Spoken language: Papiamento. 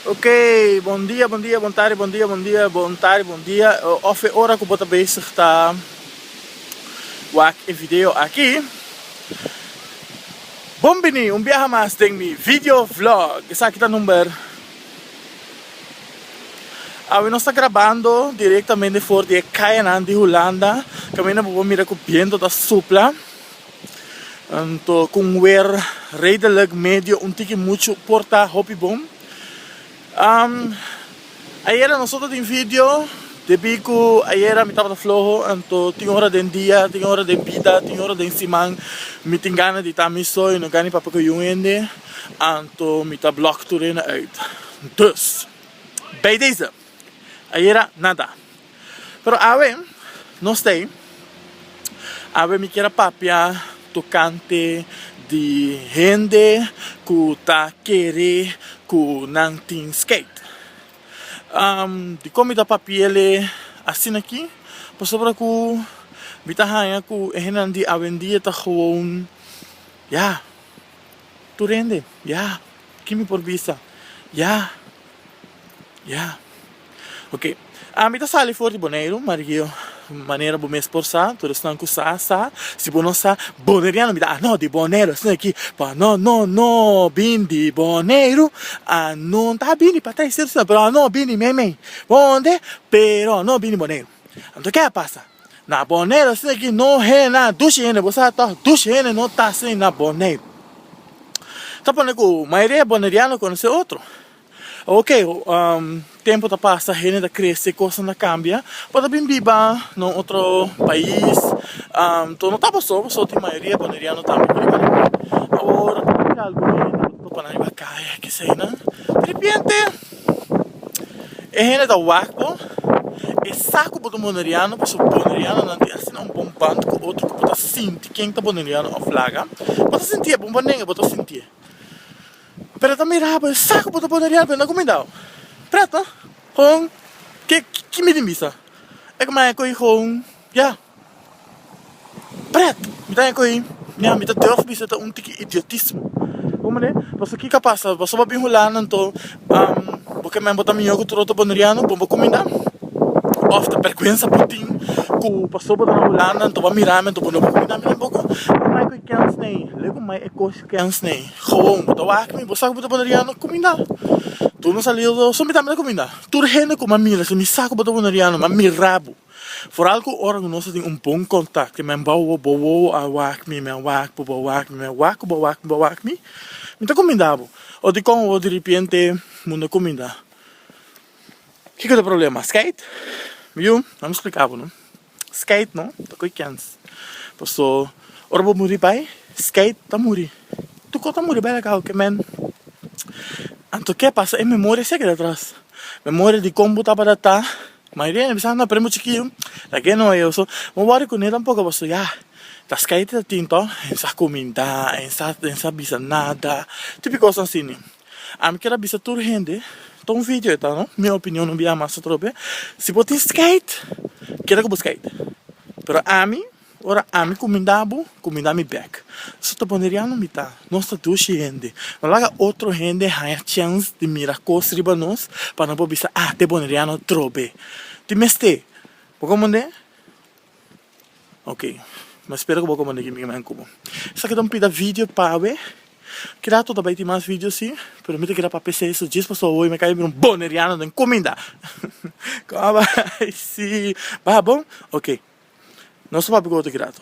Ok bon dia bon dia bon tarde bon dia bon dia bon tarde bon dia of e ora ku bo ta bezig ta wak e video aki bon bini un biaha mas den mi video vlog esaki ta number awe nos ta grabando direktamente for di e kayanan di hulanda kaminda bo por mira ku biento ta supla. Anto cu un wer redelijk medio un tiki muchu por ta hopi bon. Ayera nosotros tin video, debi cu ayera mi tabata floho, anto tin ora den dia, tin ora den bida, tin ora den siman mi tin gana di ta mi so y no gana di papia cu ayu hende, anto mi ta block tur hende uit. Dus, bij deze, ayera nada. Pero awe nos ta ei. Awe mi kier a papia tokante di hende ku ta kere ku nan tin skeit. Dikon mi ta papi'ele asin aki? Pasobra ku mi ta haña ku e hendenan di awendia ta gewoon, ya, tur hende, ya, kin mi por bisa, ya. Ya. Ok. Ami ta sali for di Boneiru, Mario, manera bo mes por sa, tur esnan ku sa, sa. Si bo no sa, Boneriano, mi ta, ah, no, di Boneiru esnan aki, pa no, no, no bin di Boneiru, ah, no, no ta bini pa traiseru sino, pero a no bini meimei. Ponde? Pero no bini Boneiru. Anto ke a pasa? Na Boneiru esnan aki no hende, na dushi hende, bo sa tòg, dushi hende no ta asina na Boneiru. Ta pone ku mayoria di e Boneriano konosé otro. Ok, tempu ta pasa, hende ta krese, kosnan ta kambia, bo ta bin biba na un otro pais, anto no ta paso, paso tin mayoria ecuadoriano tambe ta riba nan, awor tin algu hende ku ta topa nan riba kaya, kesa e nan, deripiente e hende ta wak bo, e sa ku bo ta un boneriano, paso boneriano nan tin asina un bon band ku otro ku bo ta sinti ken ta boneriano of laga, bo ta sinti'e, bo bo nega bo ta sinti'e. Pero ta mira bo e sa ku bo ta pone riel, prenda ku mi dau. Presta houn ke ki mi tin bisa. E ku maya kohi houn ya pret. Mi ta maya kohi mia, mi ta durf bisa ta un tiki idiotismo. Bon manera, pasobra kiko a pasa, boso bo bin Hulanda anto bo ke men bo ta mihó ku tur otro Boneriano, bon bo kuminda òf ta bèrgwensa bo tin ku pasobra bo ta na Hulanda anto bo a mira mi anto bo no bai kuminda mi tampoco? Mi ta maya kohi kèn snei, lei ku mai e kos Pens n'e gewoon bo ta wak mi bo sa ku bo ta pone riano kuminda tur mi sali do so mi tambe ta kuminda tur hende ku mi a mira si mi sa ku bo ta pone riano mi a mira bo foral ku ora ku nos a tin un bon kontak te men bo bo wowo a wak mi men wak bo bo a wak mi men wak ku bo a wak mi bo a wak mi mi ta kuminda bo o dikon o diripiente mundo a kuminda kiko ta problema skeit mi yu nan mi splika bo no. Skeid no ta koe kens paso ora bo muri bai skeid ta muri tuko ta muri bai la kau ke men anto ke pasa e memoria si a keda atras memoria di kon bo tabata ta mayoria di nan bisa nan prende bo chikiu ta ke no eo so no wòri kuné tampoco paso ya ta skeid e ta tin to e sa kuminda e sa bisa nada tupi kos asina. A mi kier a bisa tur hende, ta un video eta no, mi opinion no bia mas atrobe, si bo tin skait keda ku bo skait, pero ami ora ami kuminda bo kuminda mi bek, so ta boneriano mi ta, nos ta dushi hende, no laga otro hende haña chèns di mira kos riba nos pa no por bisa ah te boneriano trobe, tin mester, bo kompondé? Ok, mi spera ku bo komand'é ki mingnan ku bo. Esaki ta un pida video pawe, ke rato ta bai tin mas video si, pero mi ta keda pa PC so djes paso hoy mi kai bira un boneriano den kuminda. Kòm'a bai si, bai bo? Ok, nos ta papia ku otro ki rato.